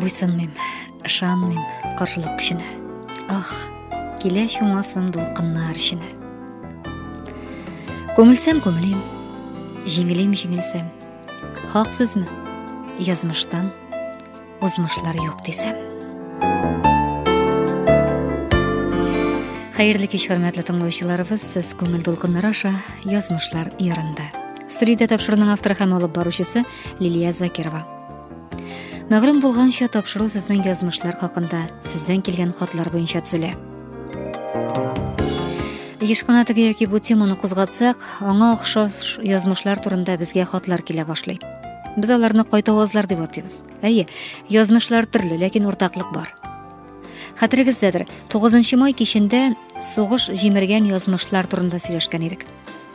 Буйсынмыйм, ышанмыйм каршылык көченә. Ах, килә чумасын дулкыннар эченә. Күңелсәм күңелем, җиңелем җиңелсәм. Хак сүзме? Язмыштан узмышлар юк дисәм. Хәерле кич, хөрмәтле тыңлаучыларыбыз, сез күңел дулкыннары аша язмышлар ярында. Студиядә тапшыруның авторы һәм алып баручысы Лилия Закирова. Мәгълүм булганча, тапшыру сезнең язмышлар хакында, сездән килгән хатлар буенча төзелә. Еш кына теге яки бу теманы кузгатсак, аңа охшаш язмышлар турында безгә хатлар килә башлый. Без аларны кайта авазлар дип атыйбыз. Әйе, язмышлар төрле, ләкин уртаклык бар. Хәтерегездәдер, 9 май кичендә сугыш җимергән язмышлар турында сөйләшкән идек.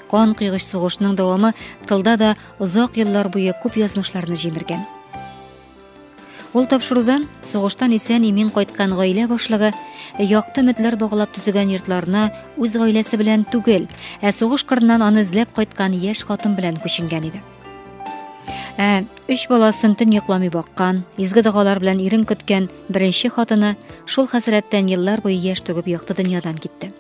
Кан кыйгыч сугышның дәвамы тылда да озак еллар буе күп язмышларны җимергән. Ул тапшырудан сугыштан исән имин кайткан гаилә башлыгы якты өметләр баглап төзегән йортларына үз гаиләсе белән түгел, ә сугыш кырыннан аны эзләп кайткан яшь хатын белән күченгән иде. Ә өч баласын төн йокламый баккан, изге догалар белән ирен көткән беренче хатыны шул хәсрәттән еллар буе яшь түгеп якты дөньядан китте.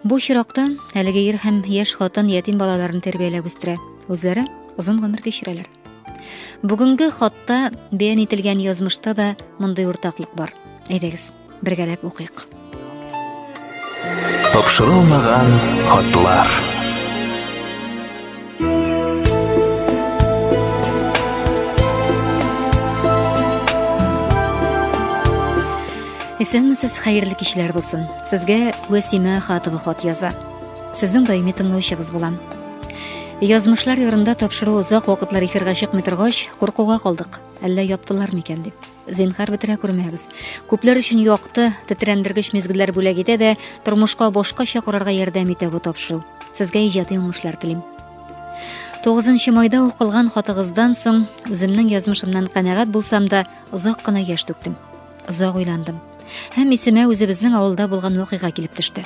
Бу чиракта әлеге ир һәм яшь хатын ятим балаларын тәрбияләп үстерә. Үзләре озын гомер кичерәләр. Бүгенге хатта бәян ителгән язмышта да мондый уртаклык бар. Әйдәгез, бергәләп укыйк. Тапшырылмаган хатлар. Исәнмесез, хәерле кичләр булсын. Сезгә Вәсимә Хатова хат яза. Сезнең даими тыңлаучыгыз булам. Язмышлар ярында тапшыру озак вакытлар эфирга чыкмый торгач, куркуга калдык. Әллә яптылар микән дип. Зинхар бетерә күрмәгез. Күпләр өчен якты, тетрәндергеч мизгелләр бүләк итә дә, тормышка башкача карарга ярдәм итә бу тапшыру. Сезгә иҗади уңышлар телим. 9 майда укылган хатыгыздан соң үземнең язмышымнан канәгать булсам да, озак кына яшь түктем. Озак уйландым. Һәм исемә үзебезнең авылда булган вакыйга килеп төште.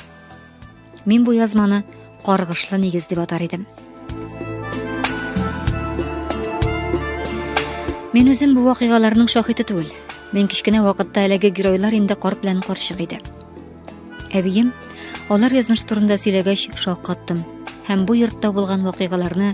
Мин бу язманы каргышлы нигез дип атар идем. Мин үзем бу вакыйгаларның шаһиты түгел. Мин кечкенә вакытта әлеге геройлар инде карт белән карчык иде. Әбием алар язмыш турында сөйләгәч шаккаттым һәм бу йортта булган вакыйгаларны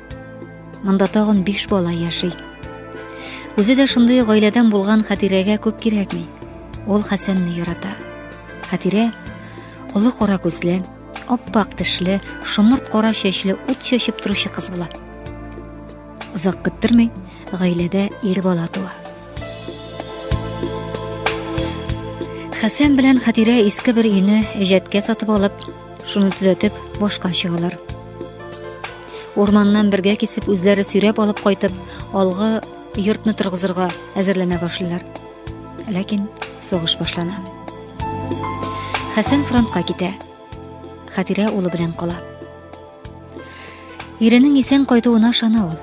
Монда тагын биш бала яши. Үзе дә шундый гаиләдән булган Хатирәгә күп кирәкми. Ул Хәсәнне ярата. Хатирә олы кара күзле, аппак тешле, шомырт кара чәчле, ут чәчеп торучы кыз була. Озак көттермей, гаиләдә ир бала туа. Хәсән белән Хатирә иске бер өйне җәткә сатып алып, шуны төзәтеп, башка чыгалар. Урманнан бергә кисеп үзләре сөйрәп алып кайтып, алгы йортны торгызырга әзерләнә башлыйлар. Ләкин сугыш башлана. Хәсән фронтка китә. Хәтирә улы белән кала. Иренең исән кайтуына шана ул.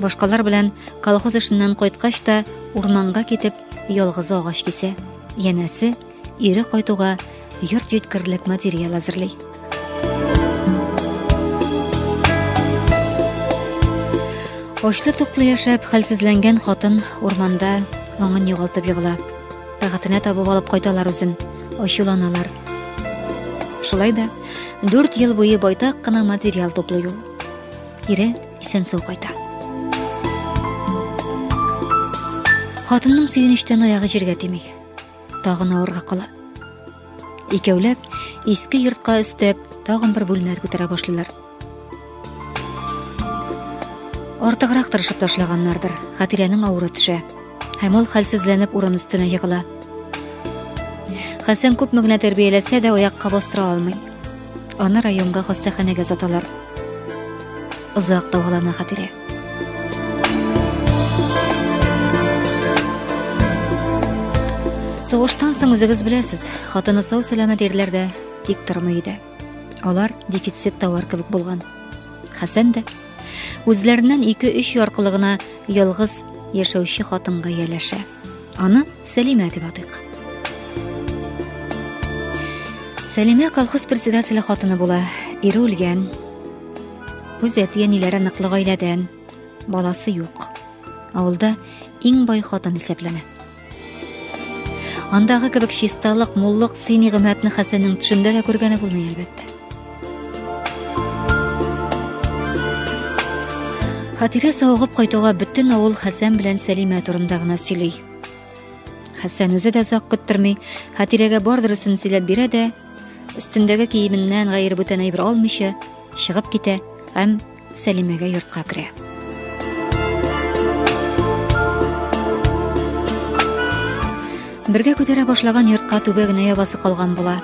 Башкалар белән колхоз эшеннән кайткач та урманга китеп, ялгызы агач кисә. Янәсе, Ире кайтуга йорт җиткерлек материал әзерли. Очлы туклы яшәп, хәлсезләнгән хатын урманда аңын югалтып егыла. Тәгатенә табып алып кайталар үзен, ачуланалар. Шулай да 4 ел буе байтак кына материал туплый ул. Ире исән сау кайта. Хатынның сөенечтән аягы җиргә тими. тагын авырга кала. Икәүләп иске йортка өстәп, тагын бер бүлмә күтәрә башлыйлар. Артыграк тырышып ташлаганнардыр. Хатирәнең авыры төшә. Һәм ул хәлсезләнеп урын өстенә егыла. Хәсән күпме генә тәрбияләсә дә аякка бастыра алмый. Аны районга хастаханәгә озаталар. Озак дәвалана Хатирә. Сугыштан соң үзегез беләсез, хатыны сау сәламәт ирләр дә тик тормый иде. Алар дефицит товар кебек булган. Хәсән дә үзләреннән 2-3 яркылыгына ялгыз яшәүче хатынга ияләшә. Аны Сәлимә дип атыйк. Сәлимә колхоз председателе хатыны була. Ире үлгән. Үз әти-әниләре ныклы гаиләдән, баласы юк. Авылда иң бай хатын исәпләнә. Андагы кебек чисталык, муллык, сыйни гыйммәтне Хәсәннең төшендә дә күргәне булмый, әлбәттә. Хатирә савыгып кайтуга бөтен авыл Хәсән белән Сәлимә турында гына сөйли. Хәсән үзе дә озак көттерми, Хатирәгә бар дөресен сөйләп бирә дә, Өстендәге киеменнән гайре бүтән әйбер алмыйча чыгып китә һәм Сәлимәгә йортка керә. Бергә күтәрә башлаган йортка түбә генә ябасы калган була.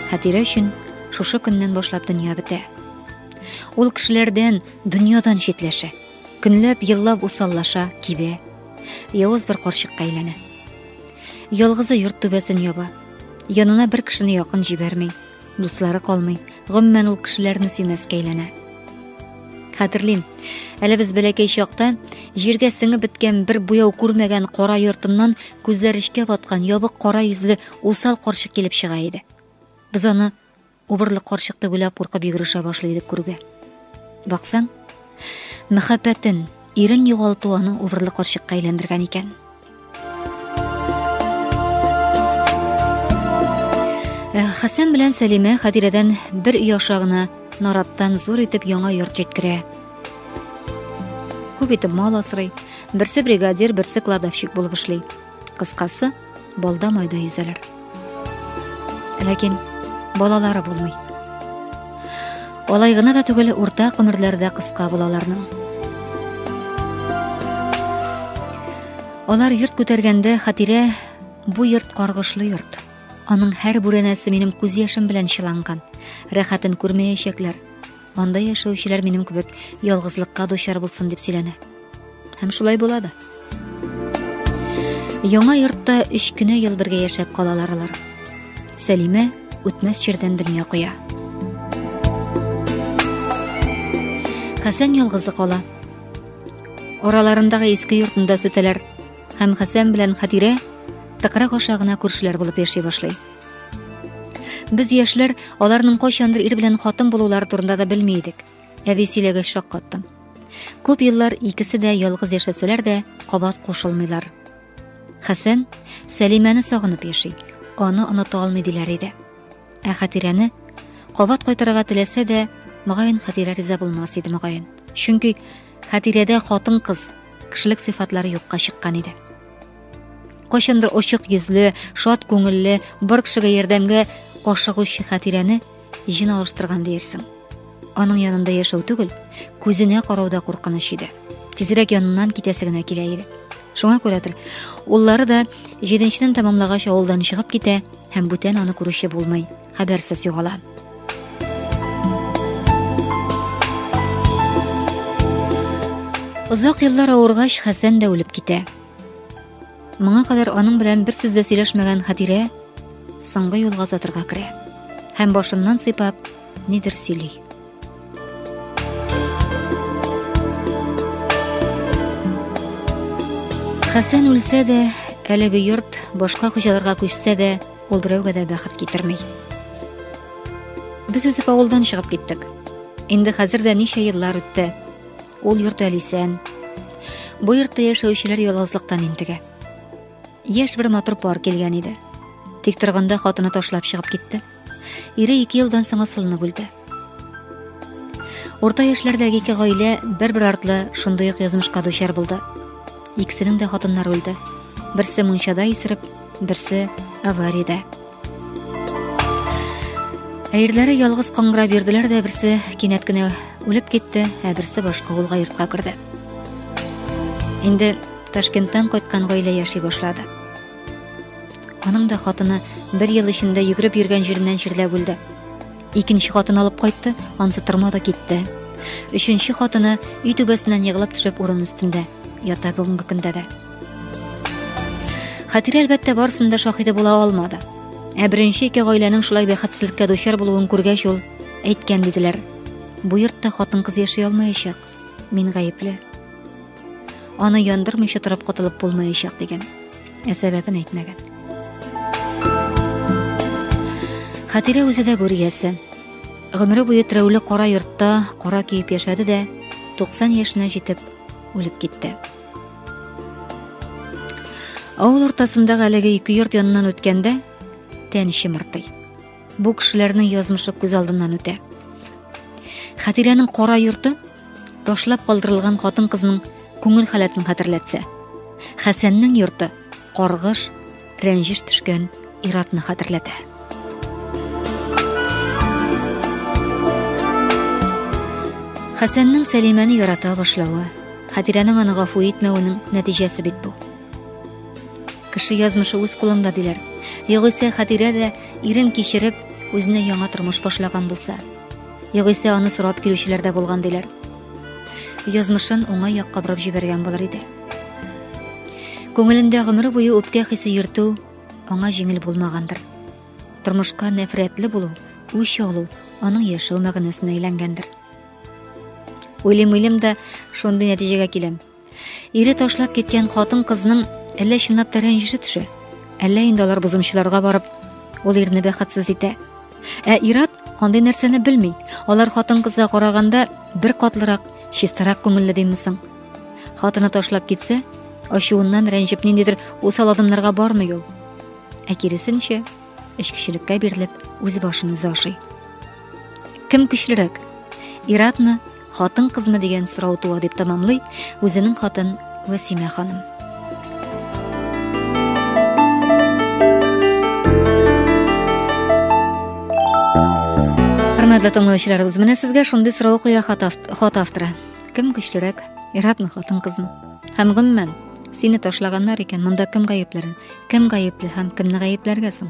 Хәтирә өчен шушы көннән башлап дөнья бетә. Ул кешеләрдән, дөньядан читләшә. Көнләп, еллап усаллаша, кибә. Явыз бер карчыкка әйләнә. Ялгызы йорт түбәсен яба. Янына бер кешене якын җибәрми, дуслары калмый. Гомумән ул кешеләрне сөймәскә әйләнә. Хәтерлим, әле без бәләкәй чакта җиргә сеңеп беткән бер буяу күрмәгән кара йортыннан күзләр эчкә баткан ябык кара йөзле усал карчык килеп чыга иде. Без аны Убырлы карчык тегүләп куркып йөгерешә башлый дип күрүгә. Баксаң, мәхәббәтен, ирен югалту аны убырлы карчыкка әйләндергән икән. Э, Хәсән белән Сәлимә Хәдирәдән бер өй аша гына нараттан зур итеп яңа йорт җиткерә. Күп итеп мал асрый, берсе бригадир, берсе кладовщик булып эшли. Кыскасы, балда майда йөзәләр. Ләкин балалары булмый. Алай гына да түгел, урта гомерләрдә кыска булаларның. Алар йорт күтәргәндә хатирә бу йорт каргышлы йорт. Аның һәр бүрәнәсе минем күз яшем белән чыланган. Рәхәтен күрмәячәкләр. Анда яшәүчеләр минем кебек ялгызлыкка дучар булсын дип сөйләнә. Һәм шулай була да. Яңа йортта өч кенә ел бергә яшәп калалар алар. Сәлимә үтмәс чирдән дөнья куя. Хәсән ялгызы кала. Араларындагы иске йортында сүтәләр һәм Хәсән белән Хатирә тыкрык аша гына күршеләр булып яши башлый. Без яшьләр аларның кайчандыр ир белән хатын булулар турында да белми идек. Әби сөйләгәч шаккаттым. Күп еллар икесе дә ялгыз яшәсәләр дә, кабат кушылмыйлар. Хәсән Сәлимәне сагынып яши, аны оныта алмый диләр иде. Ә Хатирәне кабат кайтарырга теләсә дә, мөгаен Хатирә риза булмас иде мөгаен. Чөнки Хатирәдә хатын-кыз кешелек сыйфатлары юкка чыккан иде. Кайчандыр очык йөзле, шат күңелле, бар кешегә ярдәмгә ашыгучы Хатирәне җен алыштырган диерсең. Аның янында яшәү түгел, күзенә карауда куркыныч иде. Тизрәк яныннан китәсе генә килә иде. Шуңа күрәдер, уллары да җиденченен тәмамлагач авылдан чыгып китә һәм бүтән аны күрүче булмый. хәбәрсез югала. Озак еллар авыргач, Хәсән дә үлеп китә. Моңа кадәр аның белән бер сүз дә сөйләшмәгән Хатирә соңгы юлга затырга керә һәм башыннан сыйпап, нидер сөйли. Хәсән үлсә дә, әлеге йорт башка хуҗаларга күчсә дә, ул берәүгә дә бәхет китерми. Без үсеп авылдан чыгып киттек. Инде хәзер дә ничә еллар үтте. Ул йорт әле исән. Бу йортта яшәүчеләр ялгызлыктан интегә. Яшь бер матур пар килгән иде. Тик торганда хатыны ташлап чыгып китте. Ире ике елдан соң асылынып үлде. Урта яшьләрдәге ике гаилә бер-бер артлы шундый ук язмышка дучар булды. Икесенең дә хатыннары үлде. Берсе мунчада исереп, берсе авариядә. Әйрләре ялгыз каңгыра бирделәр дә берсе кинәт кенә үлеп китте, ә берсе башка авылга йортка керде. Инде Ташкенттан кайткан гаилә яши башлады. Аның да хатыны бер ел эчендә йөгереп йөргән җиреннән чирләп үлде. Икенче хатын алып кайтты, ансы тырма да китте. Өченче хатыны өй түбәсеннән егылып төшеп урын өстендә ята бүгенге көндә дә. Хатирә әлбәттә барсында шаһиде була алмады. Ә беренче ике гаиләнең шулай бәхетсезлеккә дучар булуын күргәч ул әйткән диделәр. Бу йортта хатын-кыз яши алмаячак. Мин гаепле. Аны яндырмыйча торып котылып булмаячак дигән. Ә сәбәбен әйтмәгән. Хатирә үзе дә гүриясе. Гомере буе терәүле кара йортта кара киеп яшәде дә 90 яшенә җитеп үлеп китте. Авыл уртасындагы әлеге ике йорт яныннан үткәндә тән чымыртый. Бу кешеләрнең язмышы күз алдыннан үтә. Хәтирәнең кара йорты ташлап калдырылган хатын-кызның күңел халәтен хәтерләтсә, Хәсәннең йорты каргыш, рәнҗеш төшкән иратны хәтерләтә. Хәсәннең Сәлимәне ярата башлавы, Хәтирәнең аны гафу итмәвенең нәтиҗәсе бит бу. Кеше язмышы үз кулыңда диләр. Югыйсә Хатирә дә ирен кичереп, үзенә яңа тормыш башлаган булса. Югыйсә аны сорап килүчеләр дә булган диләр. Язмышын уңай якка борып җибәргән булыр иде. Күңелендә гомер буе үпкә хисе йөртү аңа җиңел булмагандыр. Тормышка нәфрәтле булу, үч алу аның яшәү мәгънәсенә әйләнгәндер. Уйлым-уйлым да шундый нәтиҗәгә киләм. Ире ташлап киткән хатын кызның әллә чынлап та рәнҗеше төшә, әллә инде алар бозымчыларга барып, ул ирне бәхетсез итә. Ә Ират андый нәрсәне белми. Алар хатын кызга караганда бер катлырак, чистарак күңелле димме соң? Хатыны ташлап китсә, ачуыннан рәнҗеп ниндидер усал адымнарга бармый ул. Ә киресенчә, эчкечелеккә бирелеп, үз башын үзе ашый. Кем көчлерәк? Иратмы Хатын-кызмы дигән сорау туа дип тәмамлый үзенең хатын Васимә ханым. Хөрмәтле тыңлаучыларыбыз, менә сезгә шундый сорау куя хат авторы. Кем көчлерәк? Иратмы хатын-кызмы? Һәм гомумән, сине ташлаганнар икән, монда кем гаепләрен? Кем гаепле һәм кемне гаепләргә соң?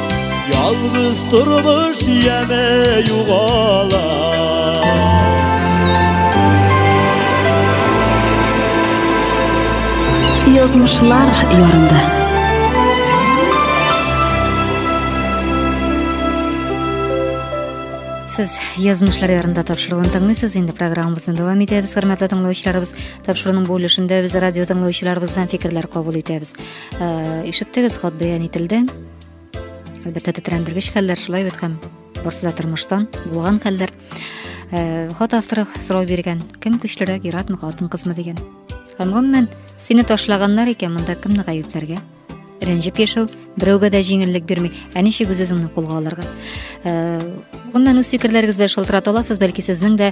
Ялгыз тормыш яме югала Язмышлар ярында Сез язмышлар ярында тапшыруын тыңлыйсыз. Инде программабызны дәвам итәбез. Хөрмәтле тыңлаучыларыбыз, тапшыруның бу өлешендә без радио тыңлаучыларыбыздан фикерләр кабул итәбез. Э, ишеттегез хат бәян ителде әлбәттә тетрәндергеч хәлләр шулай бит һәм барсы да тормыштан булган хәлләр э, хат авторы сорау биргән кем көчлерәк иратмы хатын кызмы дигән һәм гомумән сине ташлаганнар икән монда кемне гаепләргә рәнҗеп яшәү берәүгә дә җиңеллек бирми ә ничек үз үзеңне кулга алырга гомумән э, үз фикерләрегез белән шалтырата аласыз бәлки сезнең дә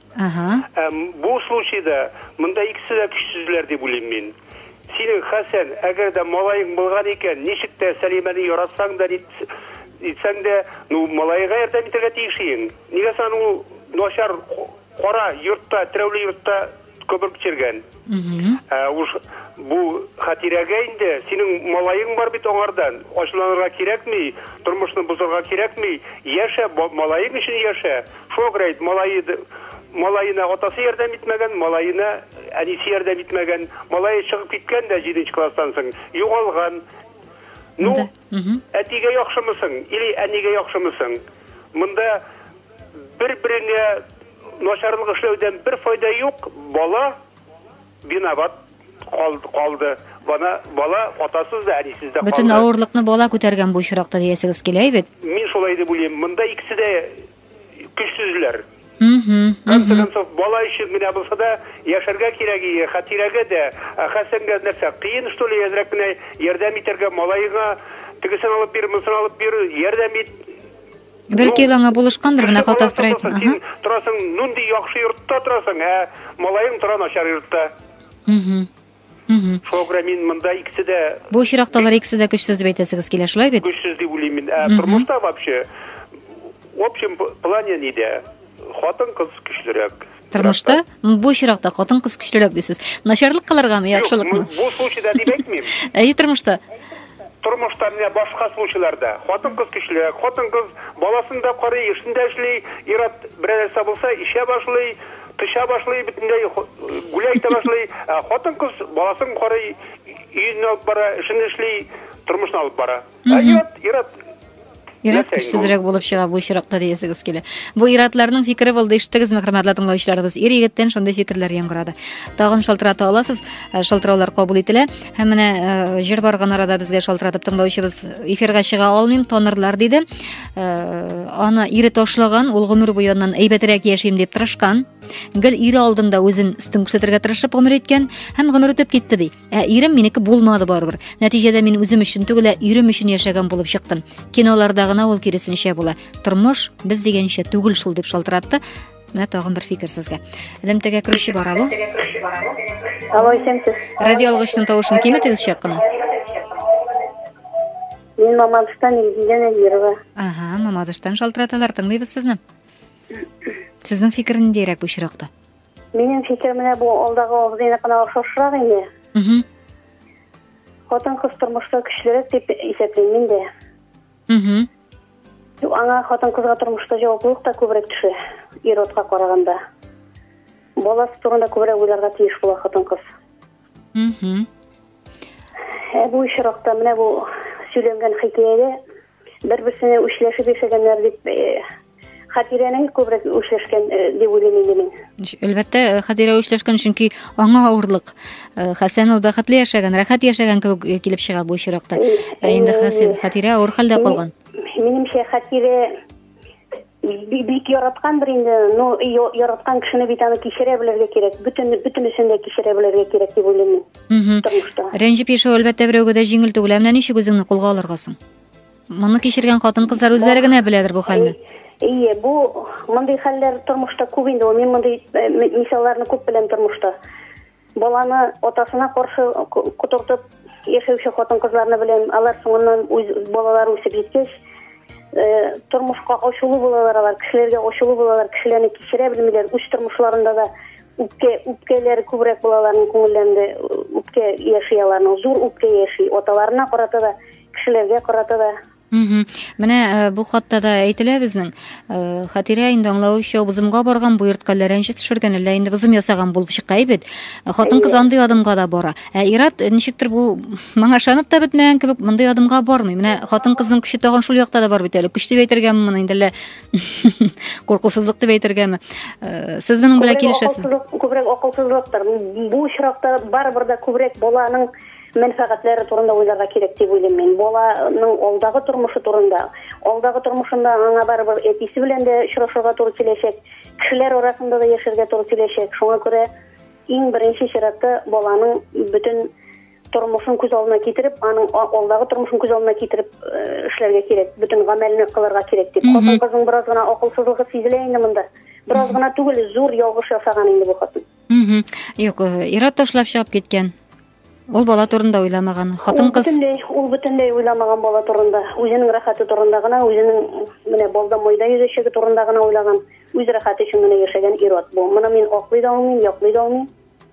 Ага. Ә бу случайда монда икесе дә көчсезләр дип уйлыйм мин. Синең, Хәсән, әгәр дә малаең булган икән, ничек тә Сәлимәне яратсаң да, ни итсәң дә, ну, малаега ярдәм итәргә тиеш иең. Нигә соң аны ул начар, кара йортта, терәүле йортта көбер кичергән? Ә уж бу хатирәгә инде синең малаең бар бит аңардан. Ачуланырга кирәкми, тормышны бозарга кирәкми. Яшә, малаең өчен яшә. Шуңа күрә әйт, малае малаена атасы ярдәм итмәгән, малаена әнисе ярдәм итмәгән. Малае чыгып киткән дә 7 класстан соң, югалган. Ну, әтигә яхшымысың или әнигә яхшымысың? Монда бер-береңә Начарлык эшләүдән бер файда юк, бала виноват калды, бана бала атасыз да, әнисез дә калды. Бөтен авырлыкны бала күтәргән бу очракта диясегез килә бит. Мин шулай дип уйлыйм, монда икесе дә көчсезләр. Конце концов, бала өчен генә булса да яшәргә кирәк иде, хәтирәгә дә, ә Хәсәнгә нәрсә, кыен что ли, әзрәк кенә ярдәм итәргә, малаеңа тегесен алып бир, монысын алып бир, ярдәм ит. Бәлки ул аңа булышкандыр, менә хат автор әйтми. Ага. Торасың, нунди яхшы йортта торасың, ә малаең тора начар йортта. Угу. Шуңа күрә мин монда икесе дә Бу очракта алар икесе дә көчсез дип әйтәсегез килә, шулай бит? Көчсез дип уйлыйм мин. Ә тормышта вообще в общем плане нидә? Хатын-кыз көчлерәк. Тормышта бу очракта хатын-кыз көчлерәк дисез. Начарлык кылыргамы, яхшылыкмы? Бу случайда дип әйтмим. Әйе, тормышта. Тормышта менә башка случайларда хатын-кыз көчлерәк, хатын-кыз баласын да карый, эшен дә эшли, ират берәр нәрсә булса, ишә башлый, печә башлый, бөтенләй гүләй итә башлый. Хатын-кыз баласын карый, өен алып бара, эшен эшли, тормышын алып бара. Ә ират, ират Ират көчсезрәк булып чыга бу очракта диясегез килә. Бу иратларның фикере булды, ишеттегезме, хөрмәтле тыңлаучыларыбыз? Ир егеттән шундый фикерләр яңгырады. Тагын шалтырата аласыз, э, шалтыраулар кабул ителә. Һәм менә э, җыр барган арада безгә шалтыратып тыңлаучыбыз эфирга чыга алмыйм, тонырлар диде. Э, аны ире ташлаган, ул гомер буе аннан әйбәтрәк яшим дип тырышкан. Гел ире алдында үзен өстен күрсәтергә тырышып гомер иткән һәм гомер үтеп китте ди. Ә ирем минеке булмады барыбер. Нәтиҗәдә мин үзем өчен түгел, ә ирем өчен яшәгән булып чыктым. Киноларда гына ул киресенчә була. Тормыш без дигәнчә түгел шул дип шалтыратты. Менә тагын бер фикер сезгә. Элемтәгә керүче бар алу. Алло, исәнсез. Радио алгычның тавышын киметегез чак кына. Мин Мамадыштан Илгизә Нәзирова. Ага, Мамадыштан шалтыраталар, тыңлыйбыз сезне. Сезнең фикер ниндәйрәк бу очракта? Минем фикеремне бу алдагы абзыйны кына охшашрак инде. Угу. Хатын кыз тормышта көчлерәк дип исәплим мин дә. Угу. Аңа хатын кызга тормышта җаваплылык та күбрәк төшә, ир-атка караганда. Баласы турында күбрәк уйларга тиеш була хатын кыз. Ә бу очракта менә бу сөйләнгән хикәядә бер-берсенә үчләшеп яшәгәннәр дип Хатирәнең күбрәк үчләшкән дип уйлыйм инде мин. Әлбәттә, Хатирә үчләшкән, чөнки аңа авырлык. Хәсән ул бәхетле яшәгән, рәхәт яшәгән кебек килеп чыга бу очракта. Ә инде Хәсән, Хатирә авыр хәлдә калган. Минемчә, Хатирә бик бик яраткандыр инде ну яраткан кешене бит аны кичерә белергә кирәк бөтен бөтенесен дә кичерә белергә кирәк дип уйлыйм мин тормышта рәнҗеп яшәү әлбәттә берәүгә дә җиңел түгел ә менә ничек үзеңне кулга алырга соң моны кичергән хатын кызлар үзләре генә беләдер бу хәлне ие бу мондый хәлләр тормышта күп инде ул мин мондый мисалларны күп беләм тормышта Баланы атасына каршы котыртып яшәүче хатын-кызларны беләм. Алар соңыннан үз балалары үсеп җиткәч, э, тормышка ачулы булалар алар, кешеләргә ачулы булалар, кешеләрне кичерә белмиләр. Үз тормышларында да үпкә, үпкәләре күбрәк була аларның күңелләрендә, үпкә яши аларның, зур үпкә яши. Аталарына карата да, кешеләргә карата да Менә э, бу хатта да әйтелә безнең. Э, Хатирә инде аңлавымча, бозымга барган бу йортка ләрәнче төшергән, әллә инде бозым ясаган булып чыга бит. Э, хатын-кыз андый адымга да бара. Ә Ират ничектер бу моңа ышанып та бетмәгән кебек, мондый адымга бармый. Менә хатын-кызның көче тагын шул якта да бар бит әле. Көч дип әйтергәме моны инде әллә куркусызлык дип әйтергәме? Сез моның белән килешәсез? Күбрәк акылсызлыктыр. Бу очракта барыбер дә күбрәк баланың мәнфәгатьләре турында уйларга кирәк дип уйлыйм мин. Баланың алдагы тормышы турында, алдагы тормышында аңа барыбер әтисе белән дә очрашырга туры киләчәк, кешеләр арасында да яшәргә туры киләчәк. Шуңа күрә иң беренче чиратта баланың бөтен тормышын күз алдына китереп, аның алдагы тормышын күз алдына китереп э, эшләргә кирәк, бөтен гамәлне кылырга кирәк дип. Хатын кызның бераз гына акылсызлыгы сизелә инде монда. Бераз гына түгел, зур ялгыш ясаган инде бу хатын. Юк, э, ират ташлап чыгып киткән. Ул бала турында уйламаган. Хатын кыз бөтенләй, ул бөтенләй уйламаган бала турында. Үзенең рәхәте турында гына, үзенең менә балда майда йөзәчәге турында гына уйлаган. Үз рәхәте өчен генә яшәгән ир-ат бу. Моны мин аклый да алмыйм, яклый да алмыйм.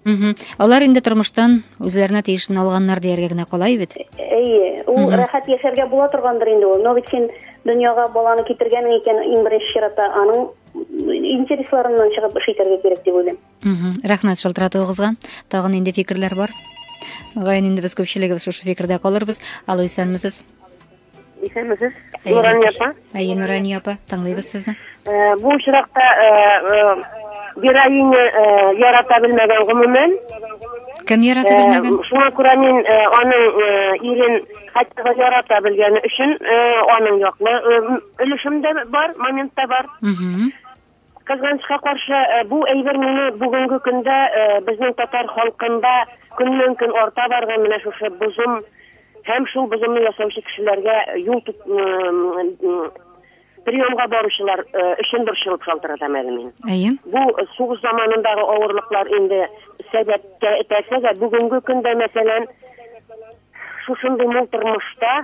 Угу. Алар инде тормыштан үзләренә тиешен алганнар дияргә генә калай бит. Әйе, ул угу. рәхәт яшәргә була торгандыр инде ул. Но бит син дөньяга баланы китергәнең икән, иң беренче чиратта аның интересларыннан чыгып эш итәргә кирәк дип уйлыйм. рәхмәт шалтыратуыгызга тагын инде фикерләр бар мөгаен инде без күпчелегебез шушы фикердә калырбыз алло исәнмесез исәнмесез нурания апа әйе нурания апа тыңлыйбыз сезне э, бу очракта э, э, героиня ярата белмәгән гомумән кем ярата белмәгән шуңа күрә мин аның ирен хәтта да ярата белгәне өчен аның яклы өлешем дә бар момент та бар Кызганычка каршы, бу әйбер мине бүгенге көндә безнең татар халкында көннән-көн арта барган менә шушы бозым һәм шул бозымны ясаучы кешеләргә юл тот приемга баручылар өчен борчылып шалтыратам әле мин. Әйе. Бу сугыш заманындагы авырлыклар инде сәбәпкә этәрсә дә, бүгенге көндә, мәсәлән, Шушындый мул тормышта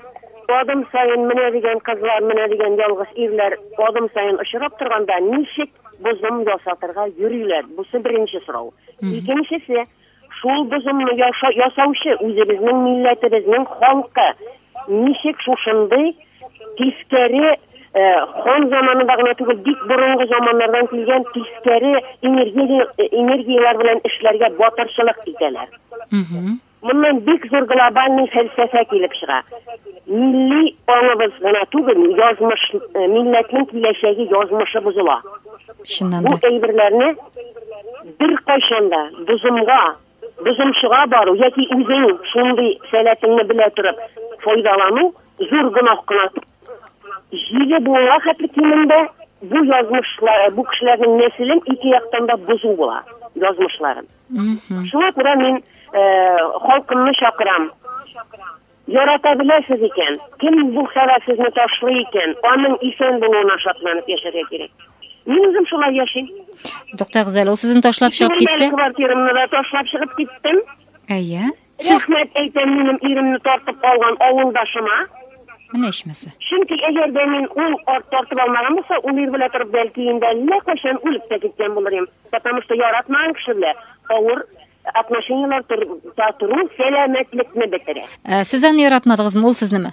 адым саен менә дигән кызлар, менә дигән ялгыз ирләр адым саен очрап торганда ничек бозым ясатырга йөриләр? Бусы беренче сорау. Икенчесе, шул бозымны ясаучы үзебезнең милләтебезнең халкы ничек шушындый тискәре э, хан заманында гына түгел, бик борынгы заманнардан килгән тискәре энергия, энергияләр белән эшләргә батырчылык итәләр. Моннан бик зур глобальный фәлсәфә килеп чыга. Милли аңыбыз гына түгел, язмыш, э, милләтнең киләчәге, язмышы бозыла. Чыннан Бу да. әйберләрне беркайчан да бозымга, бозымчыга бару яки үзең шундый сәләтеңне белә торып файдалану зур гөнаһ кына. Җиде буынга хәтле кимендә бу язмышлар, бу кешеләрнең нәселен ике яктан да бозу була, язмышларын. Шуңа күрә мин халкымны чакырам. Ярата беләсез икән, кем бу хәлә сезне ташлый икән, аның исән булуына шатланып яшәргә кирәк. Мин үзем шулай яшим. Туктагыз әле, ул сезне ташлап чыгып китсә? Квартирамны да ташлап чыгып киттем. Әйе. Рәхмәт әйтәм минем иремне тартып алган авылдашыма. Менә ичмаса. Чөнки әгәр дә мин ул арт тартып алмаган булса, ул ир белә торып бәлки инде әллә кайчан үлеп тә киткән булыр идем. Потому что яратмаган кеше белә авыр отношениеләр тору сәламәтлекне бетерә. Ә, сез аны яратмадыгызмы, ул сезнеме?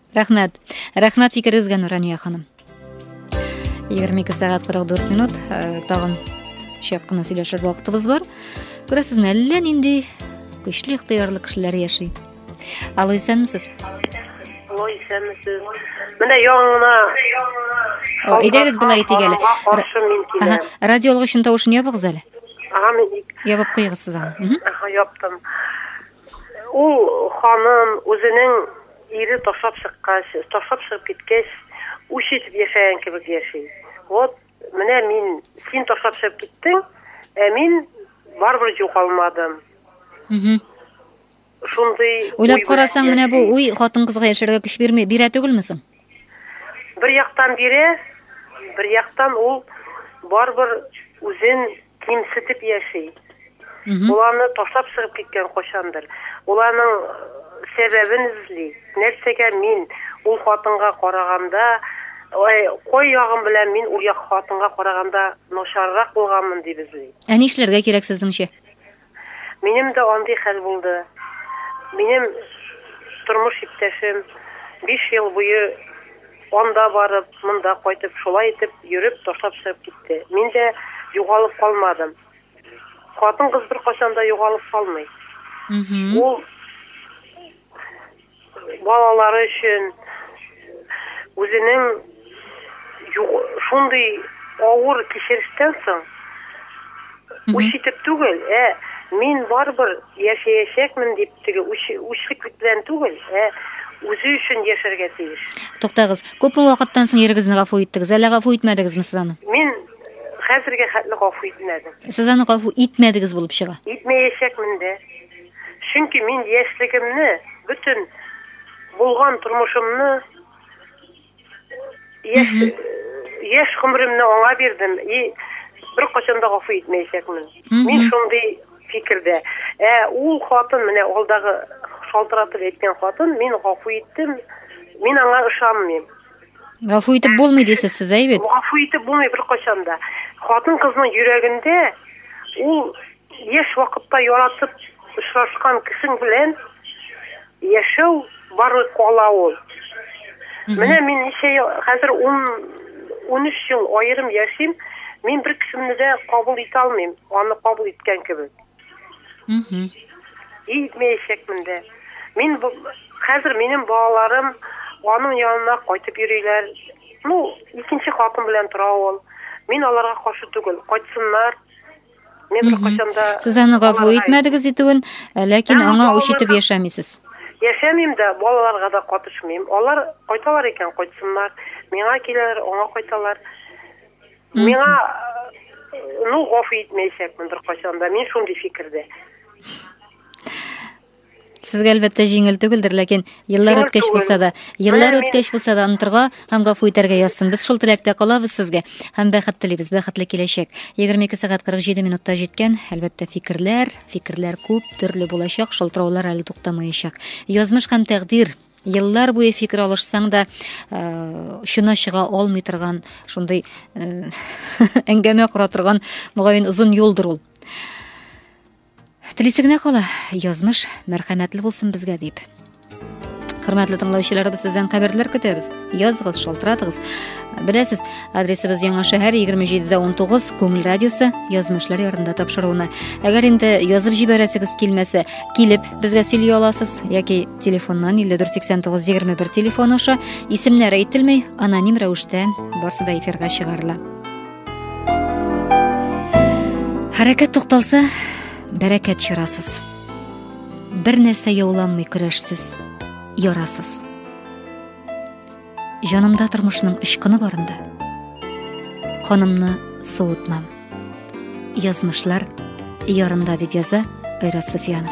Рәхмәт. Рәхмәт фикерегезгә, Нурания ханым. 22 сәгать 44 минут. Э, тагын шәп кына сөйләшер вакытыбыз бар. Күрәсезме, әллә нинди көчле ихтыярлы кешеләр яши. Алло, исәнмесез? Алло, исәнмесез. Менә яңына Әйдәгез болай итик әле. Ага, радио алгычын тавышын ябыгыз әле. Ага, мин ябып куегыз сез аны. Ага, яптым. Ул ханым үзенең Ире ташлап чыккач, ташлап чыгып киткәч, үч итеп яшәгән кебек яши. Вот, менә мин, син ташлап чыгып киттең, ә мин барыбер югалмадым. Шундый Уйлап карасаң, менә бу уй хатын-кызга яшәргә көч бирми, бирә түгелме соң? Бер яктан бирә, бер яктан ул барыбер үзен кимсетеп яши. Ул аны ташлап чыгып киткән кайчандыр. Ул аның э, сәбәбен эзли. Нәрсәгә мин ул хатынга караганда, ой, кой ягым белән мин ул як хатынга караганда начаррак булганмын дип эзли. Ә нишләргә кирәк сезнеңчә? Минем дә андый хәл булды. Минем тормыш иптәшем биш ел буе анда барып, монда кайтып, шулай итеп йөреп, ташлап чыгып китте. Мин дә югалып калмадым. Хатын-кыз беркайчан да югалып калмый. Ул Балалары өчен үзенең шундый авыр кичерештән соң үч итеп түгел, ә мин барыбер яшәячәкмен дип теге үчлек белән түгел, ә үзе өчен яшәргә тиеш. Туктагыз, күпме вакыттан соң ирегезне гафу иттегез, әллә гафу итмәдегезме сез аны? Мин хәзергә хәтле гафу итмәдем. Сез аны гафу итмәдегез булып чыга. Итмәячәкмен дә. Чөнки мин яшьлегемне, бөтен булган тормышымны яшь яшь гомеремне аңа бирдем и беркайчан да гафу итмәячәкмен. Мин шундый фикердә. Ә ул хатын менә алдагы шалтыратып әйткән хатын, мин гафу иттем, мин аңа ышанмыйм. Гафу итеп булмый дисез сез, әй бит? Гафу итеп булмый беркайчан да. Хатын-кызның йөрәгендә ул яшь вакытта яратып очрашкан кешең белән яшәү барлык кала ул. Менә мин ничә ел, хәзер 10 13 ел аерым яшим, мин бер кешемне дә кабул итә алмыйм, аны кабул иткән кебек. И итмәячәкмен дә. Мин бу хәзер минем балаларым аның янына кайтып йөриләр. Ну, икенче хатын белән тора ул. Мин аларга каршы түгел. Кайтсыннар. Мин беркайчан да Сез аны гафу итмәдегез итүен, э, ләкин Әмма аңа үч итеп балаларга- яшәмисез. Яшәмим дә, балаларга да катышмыйм. Алар кайталар икән, кайтсыннар. Миңа киләләр, аңа кайталар. Миңа ну гафу итмәячәкмен беркайчан да. Мин шундый фикердә. Сезгә әлбәттә җиңел түгелдер, ләкин еллар үткәч булса да, еллар үткәч булса да онтырга һәм гафу итәргә язсын. Без шул теләктә калабыз сезгә һәм бәхет телибез, бәхетле киләчәк. 22 сәгать 47 минутта җиткән. Әлбәттә фикерләр, фикерләр күп төрле булачак, шалтыраулар әле туктамаячак. Язмыш һәм тәкъдир Еллар буе фикер алышсаң да, шуна э, чыга алмый торган, шундый э, әңгәмә кора торган, мөгаен озын юлдыр ул. Телисе генә кала, язмыш мәрхәмәтле булсын безгә дип. Хөрмәтле тыңлаучыларыбыз, сездән хәбәрләр көтәбез. Языгыз, шалтыратыгыз. Беләсез, адресыбыз Яңа шәһәр 27-19 Күңел радиосы язмышлар ярында тапшыруына. Әгәр инде язып җибәрәсегез килмәсә, килеп Безгә сөйли аласыз яки телефоннан 548921 телефон аша исемнәр әйтелмәй, аноним рәвештә барсы да эфирга чыгарыла. Хәрәкәт тукталса, бәрәкәт чырасыз. Бер нәрсә яуланмый көрәшсез, ярасыз. Җанымда тормышның очкыны барында канымны суытмам. Язмышлар ярында дип яза Айрат Суфиянов.